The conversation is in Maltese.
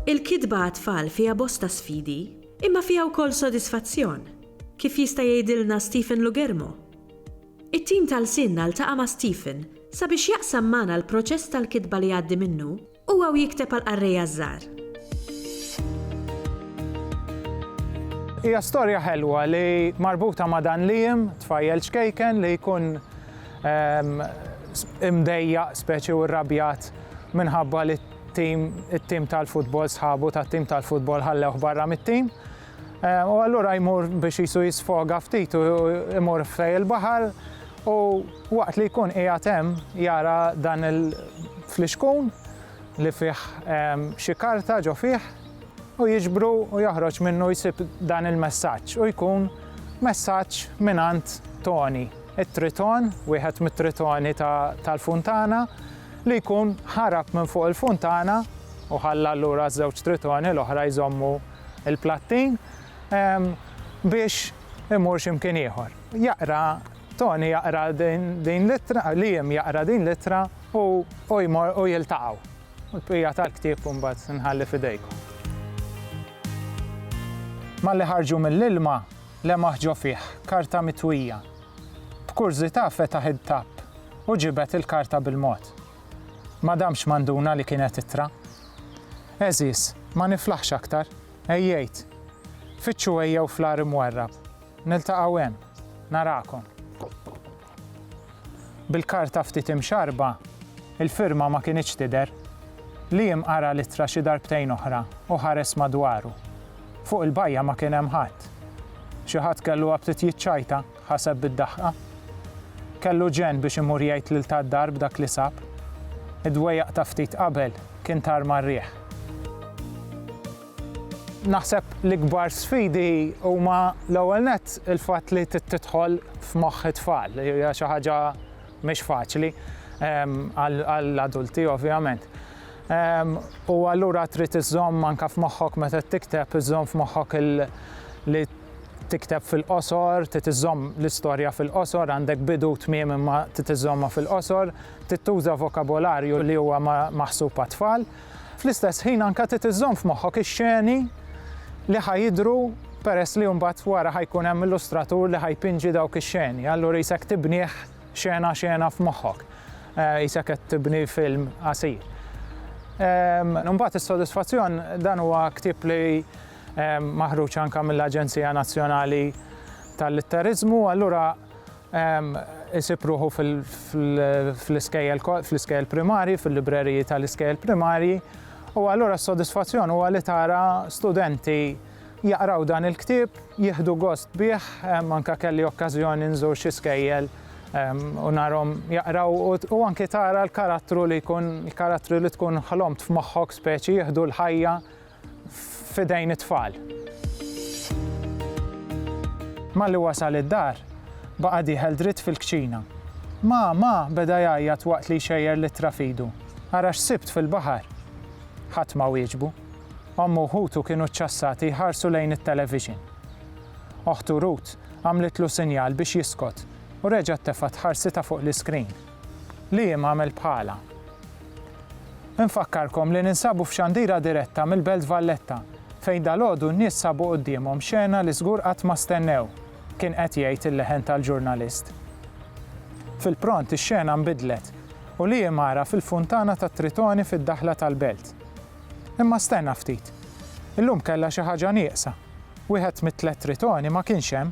Il-kitba għat-tfal fiha bosta sfidi, imma fiha wkoll sodisfazzjon, kif jista' jgħidilna Stephen Lugermo. It-tim ta' Lsienna ltaqa' ma' Stephen sabiex jaqsam magħna l-proċess tal-kitba li jgħaddi minnu U hawn jikteb għall-qarrejja ż-żgħar. Hija storja ħelwa li marbuta ma' dan Liam, tfajjel ċkejken li jkun imdejjaq speċi u rrabjat minħabba li t-tim tal-futbol sħabu tat-tim tal-futbol ħallewh barra mit-tim. Eh, u allura jmur biex jisu jisfoga ftit u jmur fej il-baħar u waqt li jkun qiegħed hemm jara dan il-flixkun li fih ehm, xi karta ġo fih u jiġbru u joħroġ minnu jsib dan il-messaġġ u jkun messaġġ minant Tony, it-triton, wieħed mit-tritoni tal-funtana li jkun ħarab minn fuq il-funtana u ħalla l-ura żewġ tritoni l-oħra jżommu il-plattin biex imur xi mkien ieħor. Jaqra Tony jaqra din l-ittra, Liam jaqra din l-ittra u jmor u jiltaqgħu. U l-bqija tal-ktieb mbagħad nħalli f'idejkom. Malli ħarġu mill-ilma, lemaħ ġo fih karta mitwija. B'kurżità fetaħ id-tapp u ġibed il-karta bil-mod. Ma damx ma nduna li kienet ittra. Għeżież, ma niflaħx aktar. Għejjejt. Fittxu għejjew fl-għar imwarrab. Niltaqgħu hemm. Narakom. Bil-karta ftit imxarrba, il-firma ma kinitx tidher. Liam qara l-ittra xi darbtejn oħra u ħares madwaru. Fuq il-bajja ma kien hemm ħadd. Xi ħadd kellu aptit jiċċajta. ħaseb bid-daħqa. Kellu ġenn biex imur jgħid lil ta' d-dar b'dak li sab. Id-dwejjaq ta' ftit qabel kien tar mar-riħ. Naħseb l-ikbar sfidi huma l-ewwel nett il-fatt li tidħol f'moħħ it-tfal li hija xi ħaġa mhix faċli għall-adulti ovvjament. U allura trid iżżomm anke f'moħħok meta tikteb iżżomm f'moħħok li tikteb fil-qosor, trid iżżomm l-istorja fil-qosor, għandek bidu u tmiem imma trid iżżommha fil-qosor, trid tuża vokabolarju li huwa maħsub għat-tfal. Fl-istess ħin anke trid iżżomm f'moħħok ix-xeni li ħa jidhru peress li mbagħad wara ħa jkun hemm illustratur li ħa jpinġi dawk ix-xeni. Allura jisek tibnih xena xena f'moħħok. Jisek eh, qed tibni film qasir. Imbagħad is-sodisfazzjon dan huwa ktieb li maħruġ anke mill-Aġenzija Nazzjonali tal-Litteriżmu, allura isib ruħu fl-iskejjel primarji, fil-libreriji tal-iskejjel primarji, u allura s-sodisfazzjon huwa li tara studenti jaqraw dan il-ktieb, jieħdu gost bih, anke kelli okkażjoni nżur xi skejjel u narhom jaqraw u anke tara l-karattru li jkun, il-karattri li tkun ħlomt f'moħħok speċi jieħdu l-ħajja. f'idejn it-tfal. Malli wasal id-dar, baqa' dieħel dritt fil-kċina. Ma, ma, beda jgħajjat waqt li jxejjer l-ittra f'idu. Ara x'sibt fil-baħar! Ħadd ma wieġbu. Ommu u ħutu kienu ċċassati jħarsu lejn it-television. Oħtu Ruth għamlitlu sinjal biex jiskot u reġgħet tefgħet ħarsitha fuq l-iskrin. li jiem għamilt bħalha. Infakkarkom li ninsabu f'xandira diretta mill-Belt Valletta fejn dalgħodu n-nies sabu quddiemhom xena li żgur qatt ma stennew, kien qed jgħid il-leħen tal-ġurnalist. Fil-pront ix-xena nbidlet u li jiem ara fil-funtana tat-Tritoni fid-daħla tal-Belt. Imma stenna ftit. Illum kellha xi ħaġa nieqsa. Wieħed mit-tliet Tritoni ma kienx hemm.